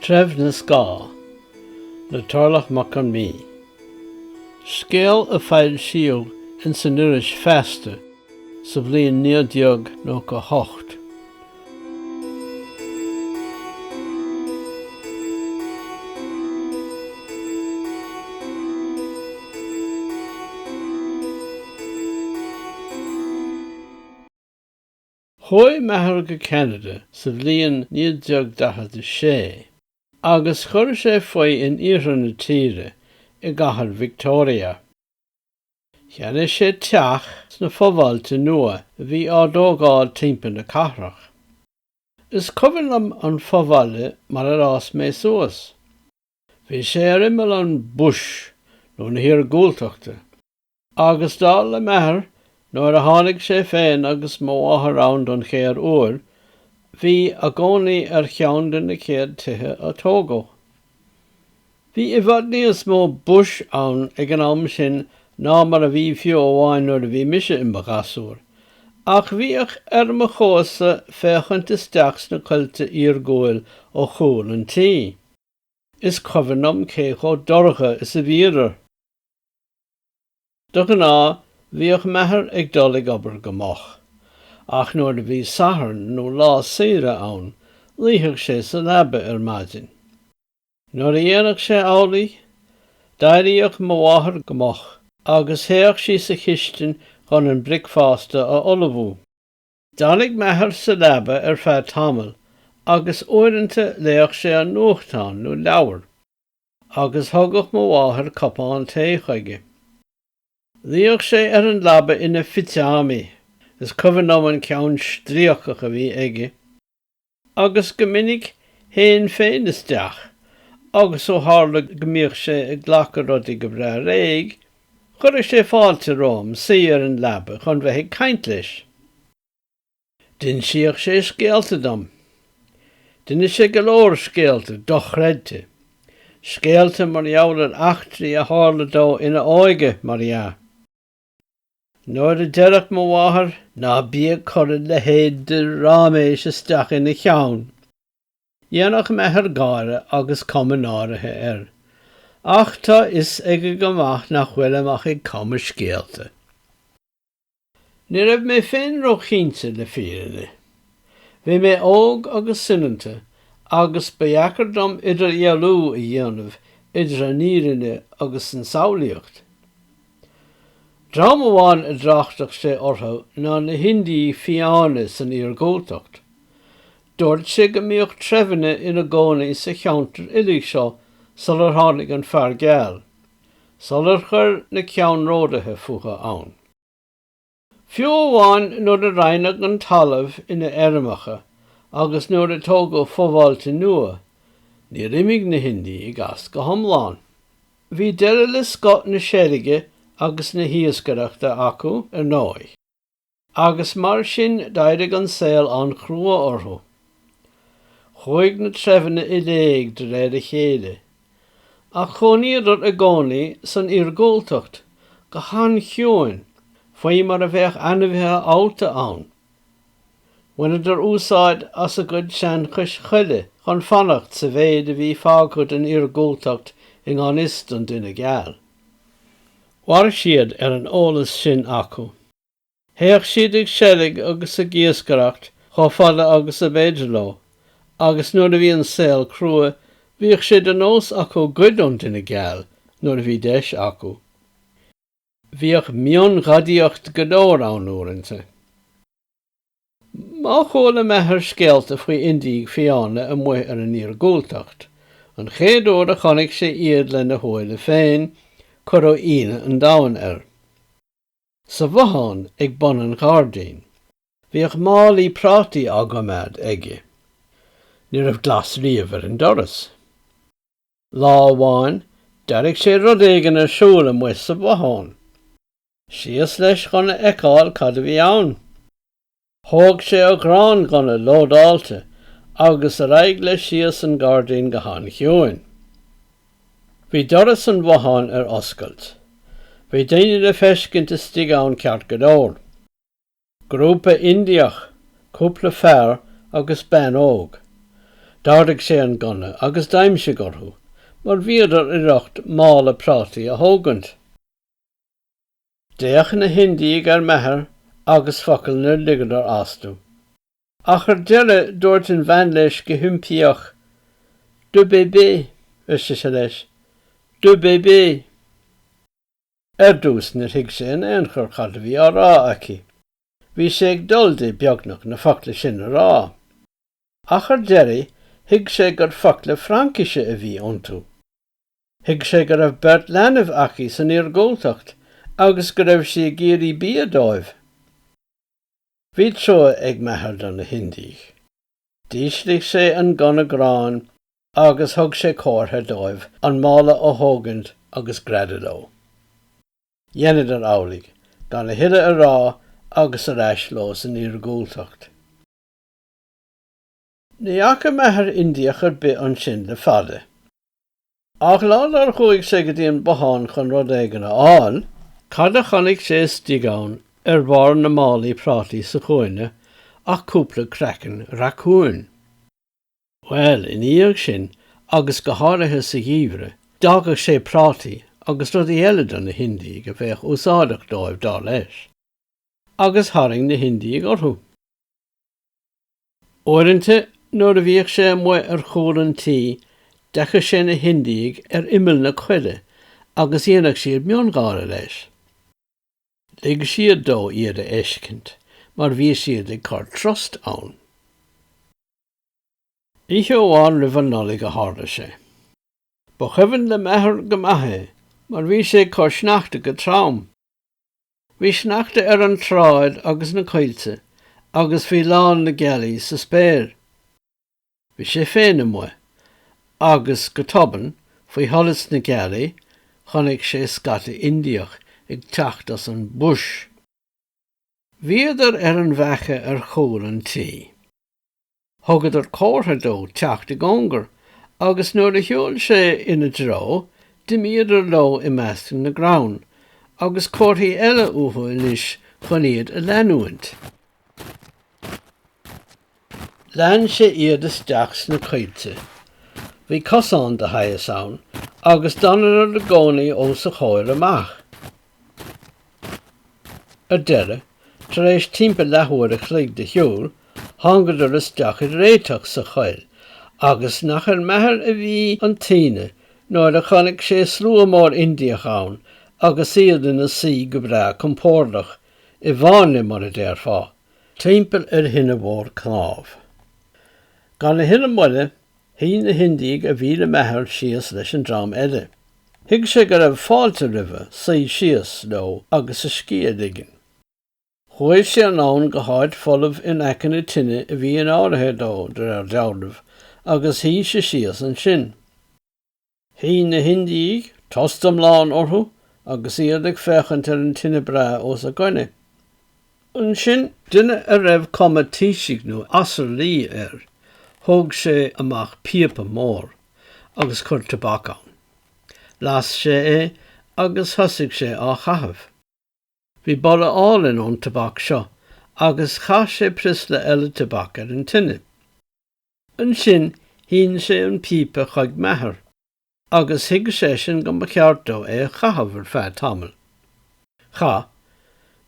Treibh na Scáth le Torlach Mac Con Midhe. Scéal a foilsíodh ins an iris Feasta sa bhliain 1998. Chuaigh m'athair go Ceanada sa bhliain 1946 agus chuir sé faoi in iarthar na tíre i gcathair Victoria. Cheannaigh sé teach sna fo-bhailte nua a bhí á dtógáil timpeall na cathrach. Is cuimhin liom an fo-bhaile mar ar fhás mé suas. Bhí sé ar imeall an 'bush' nó na hiargúltachta Agus dar le m'athair, nuair a tháinig sé féin agus mo mháthair ann don chéad uair, bhí a gcónaí ar cheann de na céad tithe a tógadh. Bhí i bhfad níos mó bush ann ag an am sin ná mar a bhí fiú amháin nuair a bhí mise i mo ghasúr, ach bhíodh ar mo chumas féachaint isteach sna coillte iargúil ó chúl an tí. Is cuimhin liom cé chomh dorcha is a bhíodar. De ghnáth, bhíodh m'athair ag dul ag obair go moch, ach nuair a bhí Satharn nó lá saoire ann, luífeadh sé sa leaba ar maidin. Nuair a dhéanfadh sé amhlaidh, d'éiríodh mo mháthair go moch agus théadh sí sa chistin chun an bricfeasta a ullmhú. D'fhanadh m'athair sa leaba ar feadh tamaill agus uaireanta léadh sé an nuachtán nó leabhar. agus thugadh mo mháthair cupán tae chuige. Luíodh sé ar an leaba ina phitseámaí, is cuimhin liom an ceann stríocach a bhí aige, agus go minic théinn féin isteach agus ó tharla go mbíodh sé ag glacadh rudaí go breá réidh, chuireadh sé fáilte romham suí ar an leaba chun bheith ag caint leis. D'insíodh sé scéalta dom. D'inis sé go leor scéalta dochreidte. Scéalta mar gheall ar eachtraí a tharla dó ina óige, mar dhea. Nuair a deireadh mo mháthair, 'Ná bí ag cur a leithéid de ráiméis isteach ina cheann! dhéanfadh m'athair gáire agus cuma náirithe air. Ach tá 'fhios aige go maith nach bhfuilim ach ag cumadh scéalta. Ní raibh mé féin róchinnte, le fírinne. Bhí mé óg agus soineanta agus ba dheacair dom idirdhealú a dhéanamh idir an fhírinne agus an tsamhlaíocht. Dream amháin a dtráchtadh sé orthu ná na hIndiaigh fiáine san iargúltacht. Dúirt sé go mbíodh treibheanna ina gcónaí sa cheantar uilig seo sular tháinig an fear geal, sular chuir na ceannródaithe fúthu ann. Fiú amháin nuair a roinneadh an talamh ina fheirmeacha agus nuair a tógadh fo-bhailte nua, níor imigh na hIndiaigh as go hiomlán. Bhí deireadh le scoth na seilge agus na hiascaireachta acu, ar ndóigh. Agus mar sin d'éirigh an saol an-chrua orthu. Chuaigh na treibheanna i léig de réir a chéile. Ach chónaíodar i gcónaí san iargúltacht, go han-chiúin, faoi mar a bheadh ainmhithe allta ann. Bhaineadar úsáid as a gcuid seanchais choille chun fanacht sa mhéid a bhí fágtha den iargúltacht i ngan fhios don duine geal. Mhair siad ar an eolas sin acu. Théadh siad ag seilg agus ag iascaireacht chomh fada agus ab fhéidir leo, agus nuair a bhí an saol crua, bhíodh sé de nós acu goid ón duine geal nuair a bhí deis acu. Bhíodh mionghadaíocht go leor ann uaireanta. Má chuala m'athair scéalta faoi Indiaigh fiáine amuigh ar an iargúltacht, an chéad uair a chonaic sé iad lena shúile féin, cuireadh ionadh an domhain air. Sa bhothán ag bun an ghairdín, bhíodh málaí prátaí á gcoimeád aige. Ní raibh glas riamh ar an doras. Lá amháin, d'airigh sé rud éigin ar siúl amuigh sa bhothán. Síos leis chun a fheiceáil cad a bhí ann. Thóg sé a ghránghunna lódáilte agus ar aghaidh leis síos an gairdín go han-chiúin. Bhí doras an bhotháin ar oscailt. Bhí daoine le feiscint istigh ann ceart go leor. Grúpa Indiach, cúpla fear agus bean óg. D'ardaigh sé an gunna agus d'aimsigh orthu mar bhíodar i riocht mála prátaí a thógaint. D'fhéach na hIndiaigh ar m'athair agus focal níor ligeadar astu. Ach ar deireadh dúirt an bhean leis go himpíoch, Deux bébés, ar sise leis, deux bébés. Ar dtús níor thuig sé in aon chor cad a bhí á rá aici. Bhí sé ag dul di, beagnach, na focla sin a rá. Ach ar deireadh thuig sé gur focla Fraincise a bhí iontu. Thuig sé go raibh beirt leanbh aici san iargúltacht agus go raibh sí ag iarraidh bia dóibh. Bhí trua ag m'athair do na hIndiaigh. D'ísligh sé an gunna gráin agus thug sé comhartha dóibh an mála a thógaint agus greadadh leo. Dheineadar amhlaidh, gan a thuilleadh a rá agus ar ais leo san iargúltacht. Ní fhaca m'athair Indiach ar bith ansin le fada. Ach lá dár chuaigh sé go dtí an bothán chun rud éigin a fháil, cad a chonaic sé istigh ann ar bharr na málaí prátaí sa chúinne ach cúpla craiceann racúin. Bhuel, ina dhiaidh sin, agus go háirithe sa gheimhreadh, d'fhágadh sé prátaí agus rudaí eile do na hIndiaigh a bheadh úsáideach dóibh, dar leis. Agus tharraing na hIndiaigh orthu. Uaireanta nuair a bhíodh sé amuigh ar chúl an tí d'fheiceadh sé na hIndiaigh ar imeall na coille agus dhéanadh siad miongháire leis. Lig siad dó iad a fheiscint mar bhí siad ag cur trust ann. Oíche amháin roimh an Nollaig a tharla sé. Ba chuimhin le m'athair go maith é mar bhí sé ag cur sneachta go trom. Bhí sneachta ar an tsráid agus na coillte agus bhí lán na gealaí sa spéir. Bhí sé féin amuigh, agus go tobann, faoi sholas na gealaí, chonaic sé scata Indiach ag teacht as an bhush. Bhíodar ar an bhfaiche ar chúl an tí. Thugadar comhartha dó teacht i gcóngar agus nuair a shiúil sé ina dtreo, d'imíodar leo i measc na gcrann, agus comharthaí eile uathu anois chun iad a leanúint. Lean sé iad isteach sna coillte. Bhí cosán de shaghas ann, agus d'fhanadar i gcónaí os a chomhair amach. Ar deireadh, tar éis timpeall leathuair a chloig de shiúl, thángadar isteach i réiteach sa choill, agus nach ar m'athair a bhí an t-ionadh nuair a chonaic sé slua mór Indiach ann agus iad ina suí go breá compordach, i bhfáinne, mar a déarfá, timpeall ar thine mhór cnámh. Gan a thuilleadh moille, Shuigh na hIndiaigh a bhí le m'athair síos leis an dream eile. Thuig sé go raibh fáilte roimhe suí síos leo agus a scíth a ligean. Chuaigh sé anonn go háit folamh in aice na tine a bhí in áirithe dó, de réir dealraimh, agus shuigh sé síos ansin. Shuigh na hIndiaigh i dtost iomlán orthu agus iad ag féachaint ar an tine breá os a gcoinne. Ansin. Duine a raibh cuma taoisigh nó asarlaí air, thóg sé amach píopa mór agus chuir tobac ann. Las sé é agus thosaigh sé á chaitheamh. Bhí boladh álainn ón tobac seo agus chaith sé priosla eile tobac ar an tine. Ansin shín sé an píopa chuig m'athair agus thuig seisean go mba cheart dó é a chaitheamh ar feadh tamaill. Chaith.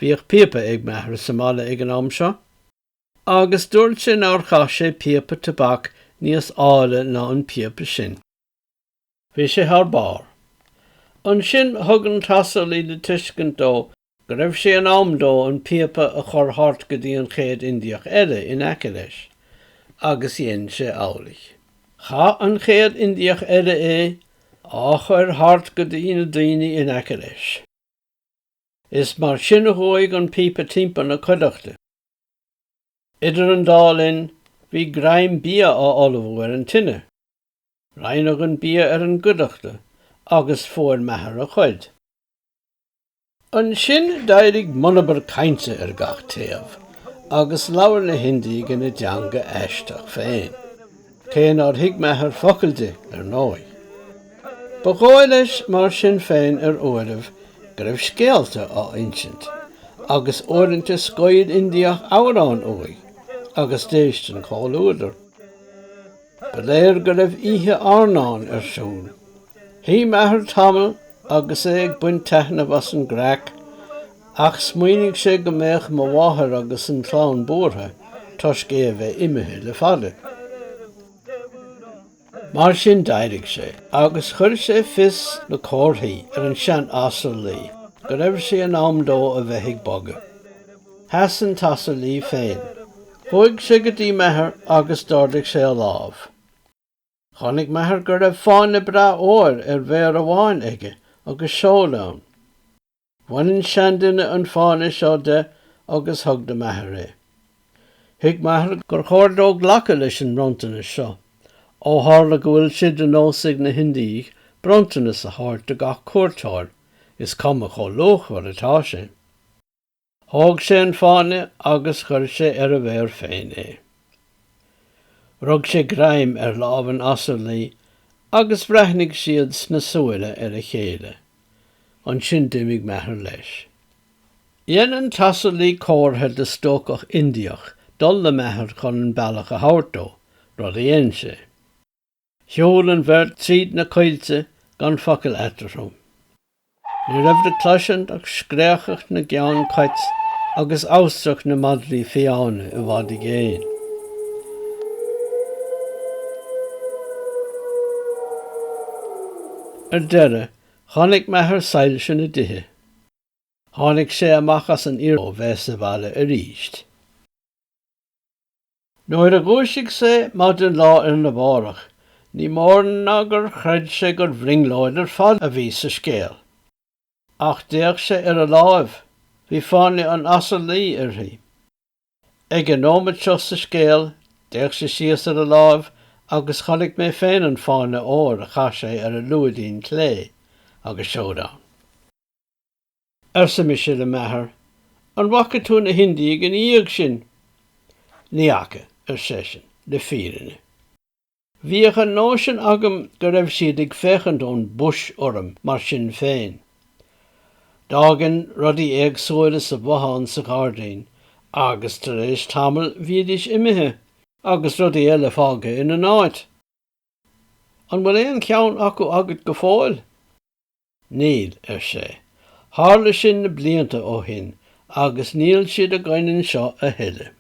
Bhíodh píopa ag m'athair sa mbaile ag an am seo agus dúirt sé nár chaith sé píopa tobac níos áille ná an píopa sin. Bhí sé thar barr. Ansin thug an t-asarlaí le tuiscint dó go raibh sé in am dó an píopa a chur thart go dtí an chéad Indiach eile in aice leis, agus dhein sé amhlaidh. Chaith an chéad Indiach eile é á chur thart go dtí na daoine in aice leis. Is mar sin a chuaigh an píopa timpeall na cuideachta. Idir an dá linn, bhí greim bia á ullmhú ar an tine. Roinneadh an bia ar an gcuideachta agus fuair m'athair a chuid. Ansin d'éirigh monabhar cainte ar gach taobh agus labhair na hIndiaigh ina dteanga aisteach féin, cé nár thuig m'athair focal di, ar ndóigh. Ba dhóigh leis, mar sin féin, ar uairibh, go raibh scéalta á insint, agus uaireanta scaoil Indiach amhrán uaidh agus d'éist an comhluadar. Ba léir go raibh oíche airneáin ar siúl. Shuigh m'athair tamall agus é ag baint taitneamh as an gcraic ach smaoinigh sé go mbeadh mo mháthair agus an chlann buartha toisc é a bheith imithe le fada. Mar sin d'éirigh sé agus chuir sé fios le comharthaí ar an sean-asarlaí go raibh sé in am dó a bheith ag bogadh. Sheas an t-asarlaí féin. Chuaigh sé go dtí m'athair agus d'ardaigh sé a lámh. Chonaic m'athair go raibh fáinne breá óir ar mhéar amháin aige agus seod ann. Bhain an seanduine an fáinne seo de agus thug do m'athair é. Thuig m'athair gur chóir dó glacadh leis an mbronntanas seo, ó tharla go bhfuil sé de nós ag na hIndiaigh bronntanas a thabhairt do gach cuairteoir, is cuma chomh luachmhar atá sé. Thóg sé an fáinne agus chuir sé ar a mhéar féin é. Rug sé greim ar lámh an asarlaí agus bhreathnaigh siad sna súile ar a chéile. Ansin d'imigh m'athair leis. Dhein an t-asarlaí comhartha do stócach Indiach dul le m'athair chun an bealach a thabhairt dó, rud a dhein sé. Shiúil an bheirt tríd na coillte gan focal eatarthu. Ní raibh le cloisint ach scréachacht na gceann cait agus amhastrach na madraí fiáine i bhfad i gcéin. Ar deireadh, chonaic m'athair soilse na dtithe. Tháinig sé amach as an iarnóin ó bheith sa bhaile arís. Nuair a dhúisigh sé maidin lá arna mhárach, ní mór ná gur chreid sé gur bhrionglóid ar fad a bhí sa scéal. Ach d'fhéach sé ar a láimh, bhí fáinne an asarlaí uirthi. Ag an nóiméad seo sa scéal, d'fhéach sé síos ar a láimh agus chonaic mé féin an fáinne óir a chaith sé ar a lúidín clé agus seoid ann. arsa mise le m'athair, an bhfaca tú na hIndiaigh ina dhiaidh sin? Ní fhaca, ar seisean, le fírinne. Bhíodh an nóisean agam go raibh siad ag féachaint ón bush orm mar sin féin. D'fhágainn rudaí éagsúla sa bhothán sa ghairdín agus tar éis tamaill bhídís imithe agus rudaí eile fágtha ina n-áit. An bhfuil aon cheann acu agat go fóill? Níl, ar sé. Tharla sin na blianta ó shin agus níl siad againn anseo a thuilleadh.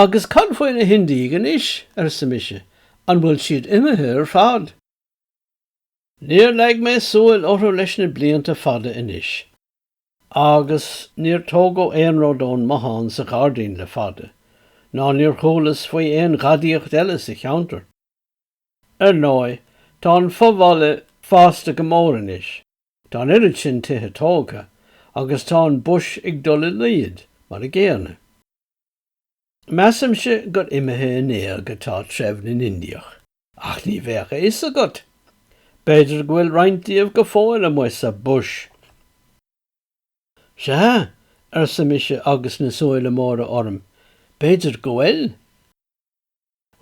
Agus cad faoi na hIndiaigh anois? arsa mise. An bhfuil siad imithe ar fad? Níor leag mé súil orthu leis na blianta fada anois. Agus níor tógadh aon rud ón mbothán sa ghairdín le fada, ná níor chualas faoi aon ghadaíocht eile sa cheantar. Ar ndóigh, tá an fo-bhaile fásta go mór anois, tá an oiread sin tithe tógtha agus tá an bush ag dul i laghad mar a gcéanna. Measaimse gur imithe in éag atá treibh na nIndiach, ach ní bheadh a fhios agat, b'fhéidir go bhfuil roinnt díobh go fóill amuigh sa bush! Sea, arsa mise agus na súile móra orm, b'fhéidir go bhfuil!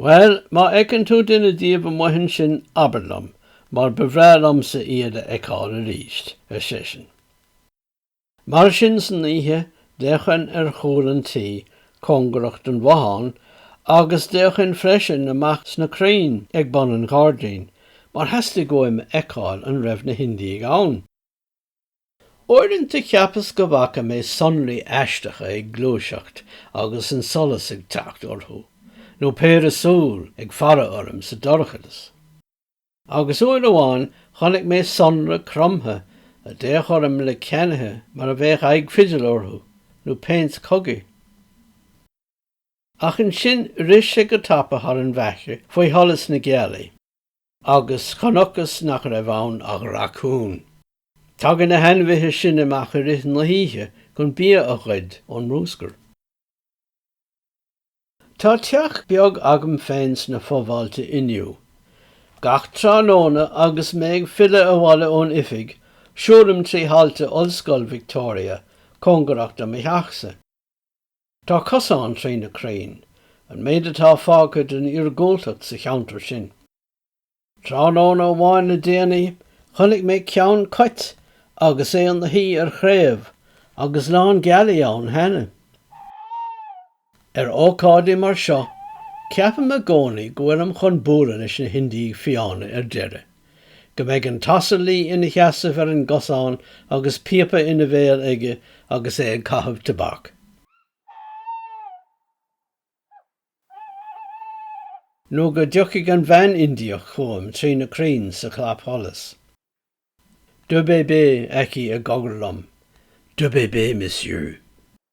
Bhuel, má fheiceann tú duine díobh amuigh ansin abair liom, mar ba bhreá liomsa iad a fheiceáil arís, ar seisean. Mar sin san oíche d'fhéachainn ar chúl an tí cóngarach don bhothán agus d'fhéachainn freisin amach sna crainn ag bun an ghairdín mar theastaigh uaim a fheiceáil an raibh na hIndiaigh ann. Uaireanta cheapas go bhfaca mé sonraí aisteacha ag gluaiseacht agus an solas ag teacht orthu, nó péire súl ag faire orm sa dorchadas. Agus uair amháin chonaic mé sonra cromtha a d'fhéach orm le ceannaithe mar a bheadh aghaidh fidil orthu, nó péint cogaidh. Ach ansin rith sé go tapa thar an bhfaithche faoi sholas na gealaí. agus chonacthas nach raibh ann ach racún. Tagann na hainmhithe sin amach i rith na hoíche chun bia a ghoid ón mbruscar. Tá teach beag agam féin sna fo-bhailte inniu. Gach tráthnóna agus mé ag filleadh abhaile ón oifig, siúlaim trí thailte Ollscoil Victoria cóngarach do mo theachsa. Tá cosán trí na crainn, an méid atá fágtha den iargúltacht sa cheantar sin. Tráthnóna amháin le déanaí, chonaic mé ceann cait agus é ina shuí ar chraobh agus lán gealaí ann cheana. Ar ócáidí mar seo, ceapaim i gcónaí go bhfuilim chun bualadh leis na hIndiaigh Fiáine ar deireadh. Go mbeidh an t-asarlaí ina sheasamh ar an gcosán agus píopa ina bhéal aige agus é ag caitheamh tobac. Nó go dtiocfaidh an bhean Indiach chugam trí na crainn sa chlapsholas. Du bébé aici á chogar liom. Du bébé, Monsieur.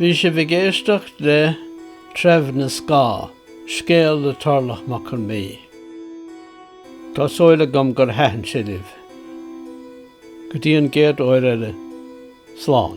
Bhí sibh ag éisteacht le Treibh na Scáth, scéal le Torlach Mac Con Mí. Tá súil agam gur thaitin sé libh. Go dtí an chéad uair eile, slán.